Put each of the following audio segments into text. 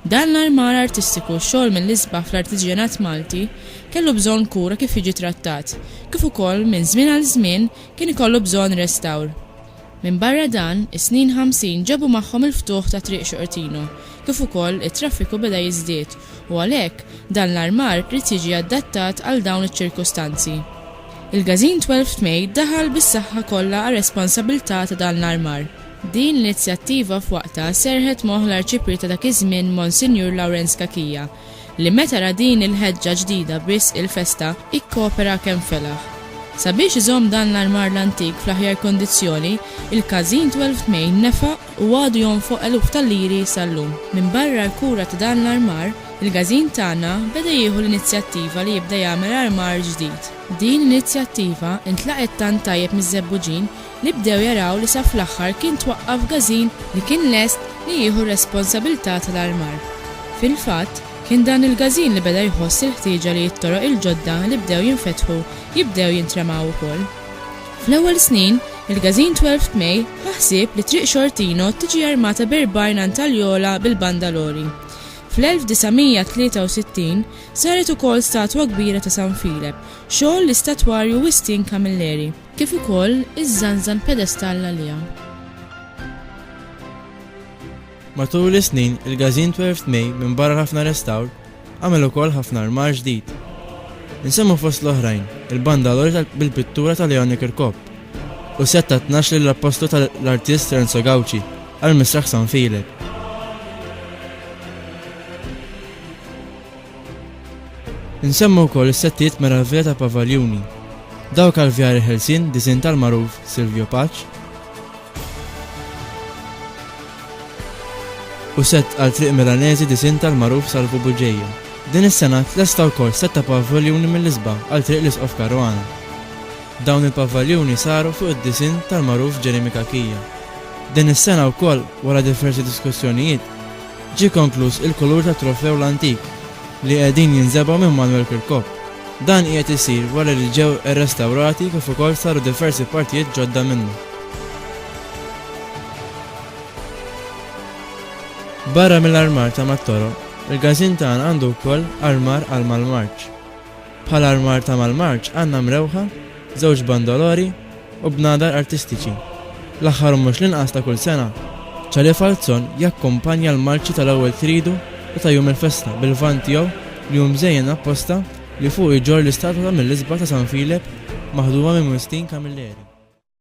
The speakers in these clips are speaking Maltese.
Dan l-armar artistiku, xogħol mill-isbaħ fl-artiġjanat Malti, kellu bżonn kura kif jiġi trattat, kif ukoll minn żmien għal żmien kien ikollu bżonn restawr. Minbarra dan, is-snin ħamsin ġabu magħhom il-ftuħ ta' Triq Xortino, kif ukoll it-traffiku beda jiżdied u għalhekk dan l-armar ried jiġi adattat għal dawn iċ-ċirkustanzi. Il-Gazin Twelfth May daħal bis-saħħa kollha għar-responsabilità ta' dan l-armar. Din l-inizjattiva f'waqtha serrħet moħħ l-Arċipriet ta' dak iż-żmien Monsinjur Lawrenz Cachia, li meta ra din il-ħeġġa ġdida b'risq il-festa, ikkopera kemm felaħ. Sabiex iżomm dan l-armar l-antik fl-aħjar kondizzjoni, il-Każin Twelfth Main nefaq u għadu jonfoq eluf ta' liri sal-lum. Minbarra l-kura ta' dan l-armar, il-Każin tagħna beda jieħu l-inizjattiva li jibda jagħmel armar ġdid. Din l-inizjattiva ntlaqgħet tant tajjeb miż-żebbuġin li bdew jaraw li sa fl-aħħar kien twaqqaf gażin li kien lest li jieħu r-responsabilità tal-armar. Fil-fatt, kien dan il-gażin li beda jħoss il-ħtieġa li t-toroq il-ġodda li bdew jinfetħu jibdew jintramaw ukoll. Fl-ewwel snin, il-gażin Twelfth May ħa ħsieb li Triq Xortino tiġi armata b'erbgħin antaljola bil-bandalori. Fl-1963, saret ukoll statwa kbira ta' San Filep, xogħol l-istatwarju Wistin Camilleri. kif ukoll iżżanżan pedestall għaliha. Matul is-snin, il-Gazin 12th May minbarra l-ħafna restawr, għamel ukoll ħafna armar ġdid. Insemmu fost l-oħrajn, il-banda l-orta bil-pittura ta' Leone Kirkop u set ta' 12 lill-appostu tal-artist Renzo Gauci għal-misraħ San Filip. Insemmu wkoll is-settijiet meravvija ta' Pavaljuni, dawk għall-vjari ħelsien disinn tal-magħruf Silvio Pace, u sett għal triq Milanesi disinn tal-magħruf Salvu Bugeja. Din is-sena tlesta wkoll sett ta' pavaljuni mill-isba għal triq l-Isqof Caruana. Dawn il-pavaljuni saru fuq id-disinn tal-magħruf Jeremy Cachia. Din is-sena wkoll, wara diversi diskussjonijiet, Ġie konkluż il-kulur tat-Trofew l-Antik li qiegħdin jinżebgħu minn Manuel Kirkop. Dan qiegħed isir wara li ġew irrestawrati kif ukoll saru diversi partijiet ġodda minnu. Barra mill-armar ta' mat-toroq, il-Gażin tagħna għandu wkoll armar għal mal-marċ. Bħal armar ta' mal-marċ għandna mrewħa, żewġ bandolori u bnadar artistiċi. L-aħħar u mhux l-inqas ta' kull sena, Ċali Falzon jakkumpanja l-marċi tal-ewwel Tridu u ta' jum il-festa bil-vann tiegħu li hu mżejjen apposta li fuqu jġorr l-istatwa ta' mill-isbaħ ta' San Filep maħduma minn Wistin Camilleri.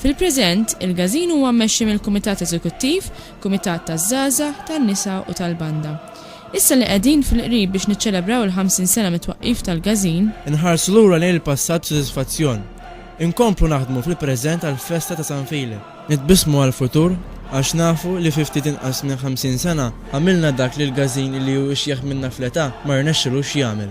Fil-preżent, il-Gazin huwa mmexxi mill-Kumitat Eżekuttiv, Kumitat taż-Żgħażagħ, tan-Nisa u tal-Banda. Issa li qegħdin fil-qrib biex niċċelebraw il-ħamsin sena mit-twaqqif tal-Gażin. Inħarsu lura lejn il-passat b'sodisfazzjon. Inkomplu naħdmu fil-preżent għall-festa ta' San Filip. Nitbissmu għall-futur għax nafu li fi ftit inqas minn ħamsin sena għamilna dak li l-Gażin li hu ixjeħ minna fl-età ma rnexxilux jagħmel.